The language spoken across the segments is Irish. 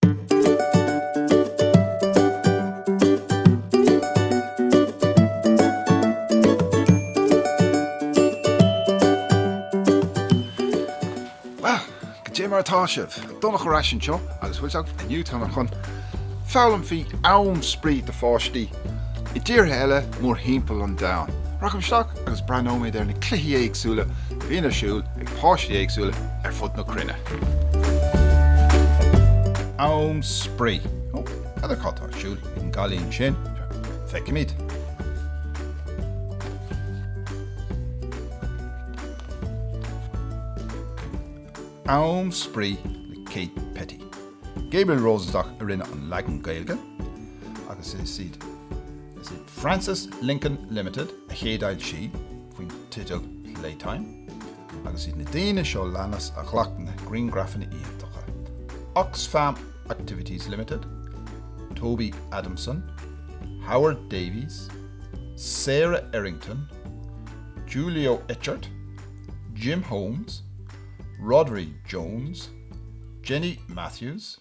Bhuel, go dté mar atá sibh! Donnach ar ais anseo agus bhfuil fhios agaibh inniu táimid chun foghlaim faoi am spraoi do pháistí i dtíortha eile mórthimpeall an domhain. Rachaimid isteach agus breathnóimid ar na cluichí éagsúla a bhíonn ar siúl ag páistí éagsúla ar fud na cruinne. Am spraoi. Ó, n'fheadar cad tá ar siúl ag an gcailín sin. Feicfimid. Am spraoi le Kate Petty. Gabriel Rosenstock a rinne an leagan Gaeilge agus is iad Frances Lincoln Limited a chéadfhoilsigh. faoin teideal Playtime agus iad na daoine seo leanas a ghlac na griangrafanna iontacha, Oxfam Activities Limited, Toby Adamson, Howard Davies, Sarah Errington, Julio Etchart, Jim Holmes, Rhodri Jones, Jenny Matthews,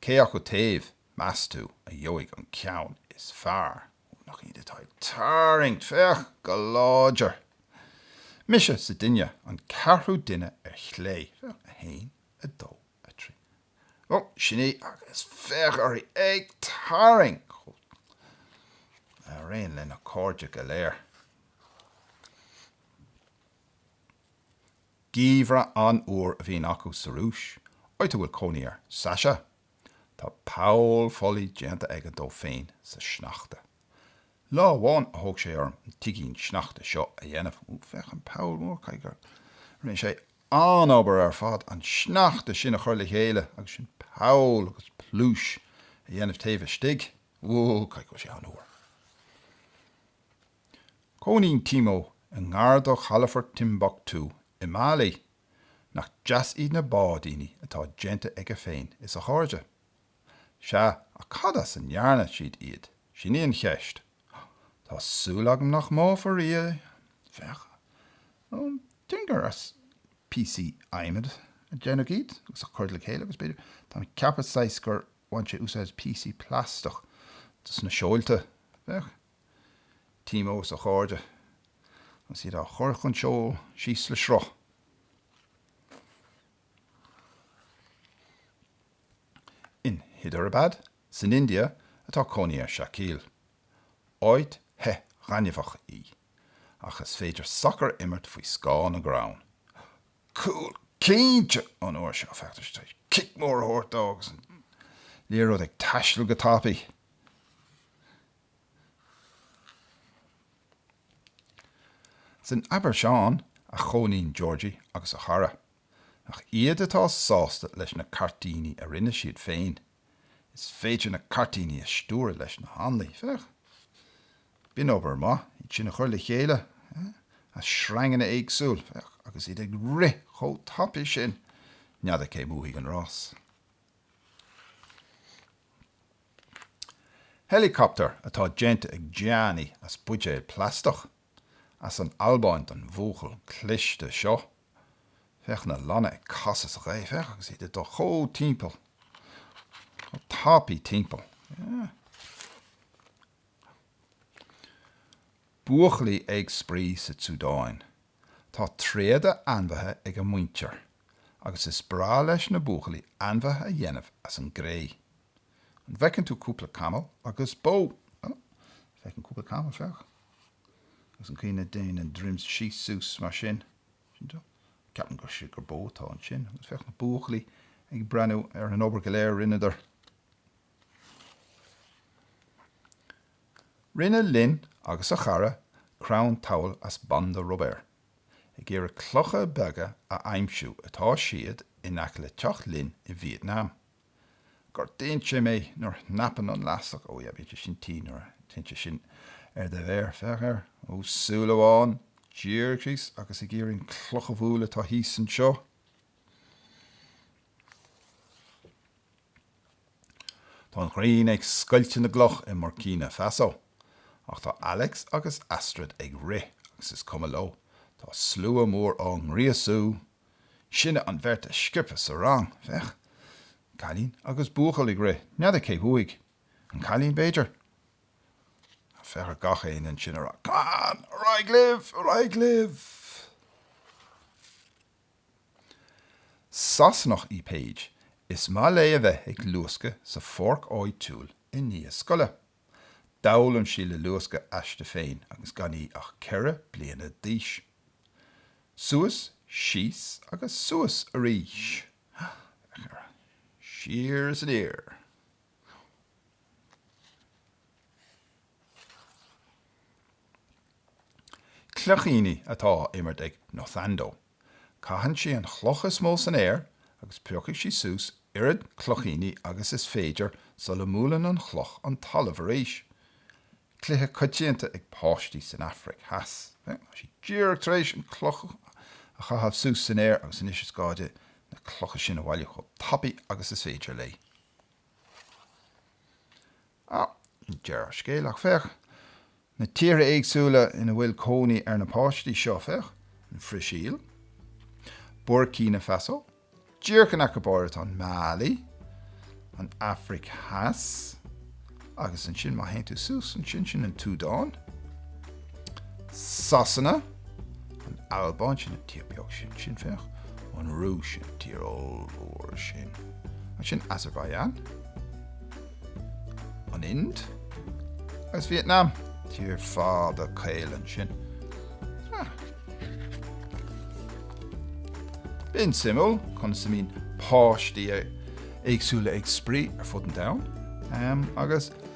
Cé acu taobh, meas tú, a gheobhaidh an ceann is fearr? Ó, nach iad atá ag tarraingt, féach, go láidir! Mise an duine, an ceathrú duine ar chlé, féach, a haon, a dó, a trí. Ó, sin í, agus féach uirthi ag tarraingt mar aon lena cairde go léir. Geimhreadh an-fhuar a bhíonn acu sa Rúis, áit a bhfuil cónaí ar Sasha. Tá poll folaigh déanta aige dó féin sa sneachta. Lá amháin a thóg sé orm an tigín sneachta seo a dhéanamh. Ó, féach an poll mór! Caithfidh go rinne sé an-obair ar fad an sneachta sin a chur le chéile agus ansin poll agus pluais a dhéanamh taobh istigh. Ó, caithfidh go bhfuil sé an-fhuar! Cónaíonn Timo i ngar do chalafort Timbuktu i Mailí. Nach deas iad na báidíní atá déanta aige féin is a chairde. Sea, ach cad as a ndearna siad iad, sin í an cheist. Tá súil agam nach mbáfar iad, féach, nó déarfainn gur as píosaí adhmaid a déanadh iad agus a cuireadh le chéile agus b'fhéidir, tá mé ag ceapadh, saghas, gur baineadh úsáid as píosaí plaisteach dos na seolta, féach. Timo is a chairde, agus iad á chur chun seoil síos le sruth. In Hyderabad, san India, atá cónaí ar Shakeel. Áit the thirim dheannachúil í, ach is féidir sacar a imirt faoi scáth na gcrann. Cúl cinnte! An uair seo, féachtar isteach is cic mór a thabhairt dó agus an liathróid ag taisteal go tapaidh. San Afraic Theas a chónaíonn Georgie agus a chara. Ach iad atá sásta leis na cairtíní a rinne siad féin, is féidir na cairtíní a stiúradh leis na hanlaí, féach. B'in obair mhaith iad sin a chur le chéile, as sreanganna éagsúil, féach, agus iad ag rith chomh tapaidh sin, n'fheadar cé a bhuaigh an rás. Helicopter atá déanta ag Gianni as buidéal plaisteach, as an Albáin don bhuachaill cliste seo. Féach na lanna ag casadh sa ghaoth, féach agus iad ag dul chomh timpeall, chomh tapaidh timpeall. Buachaillí ag spraoi sa tSúdáin. Tá tréada ainmhithe ag a muintir. agus is breá leis na buachaillí ainmhithe a dhéanamh as an gcré. An bhfeiceann tú cúpla camall agus bó? Ó, feicim cúpla camall, féach. Agus an chaoi a ndéanann a dhroim síos suas mar sin. Sin é. Ceapaim gur, sea, gur bó atá ansin. Agus féach na buachaillí ag breathnú ar an obair go léir a rinneadar. Rinne Lin agus a chara crann tabhaill as banda rubair. Ag iarraidh clocha beaga a aimsiú atá siad in aice le teach Lin i Vietnam. Gortaíonn sé mé nuair a shnapann an leaistic, ó yeah, bíonn sé sin tinn nuair a téann sé sin ar do mhéar, féach air, ó súil amháin, díreach síos agus ag iarraidh an chloch a bhualadh atá thíos anseo. Tá an ghrian ag scoilteadh na gcloch i mBuircíne Fasó. Ach tá Alex agus Astrid ag rith agus is cuma leo, tá slua mór á ngríosú! Sinne an bheirt is sciobtha sa rang. Féach! Cailín agus buachaill ag rith. N'fheadar cé bhuaigh? An cailín, b'fhéidir? Ach féach ar gach éinne ansin ag rá, Come on! Ar aghaidh libh! Ar aghaidh libh! Sasanach í Paige, is maith léi a bheith ag luascadh sa pháirc áitiúil i ndiaidh scoile. D'fhoghlaim sí le luascadh aisti féin agus gan í ach ceithre bliana d'aois. Suas, síos agus suas arís. Siar is aniar. Cloichíní atá á imirt ag Nothando. Caitheann sí an chloch is mó san aer agus piocfaidh sí suas oiread cloichíní agus is féidir sula mbuaileann an chloch an talamh arís. Cluiche coitianta ag páistí san Afraic Theas. Tá sí díreach tar éis an chloch a chaitheamh suas san aer agus anois is gá di na clocha sin a bhailiú chomh tapaidh agus is féidir léi. Deireadh scéal, ach, féach, na tíortha éagsúla ina bhfuil cónaí ar na páistí seo, féach, an Bhrasaíl, Buircíne Fasó, díreach in aice ab áirid, an Mailí, an Afraic Theas, agus ansin, má théann tú suas ansin, sin an tSúdáin, Sasana, an Albáin, sin an tír beag sin, sin, féach, an Rúis, sin an tír ollmhór sin, ansin Azerbaijan, an Ind, agus Vietnam, tír fada caol ansin. Ah. B'in suimiúil conas a mbíonn páistí éagsúla ag spraoi ar fud an domhain, agus.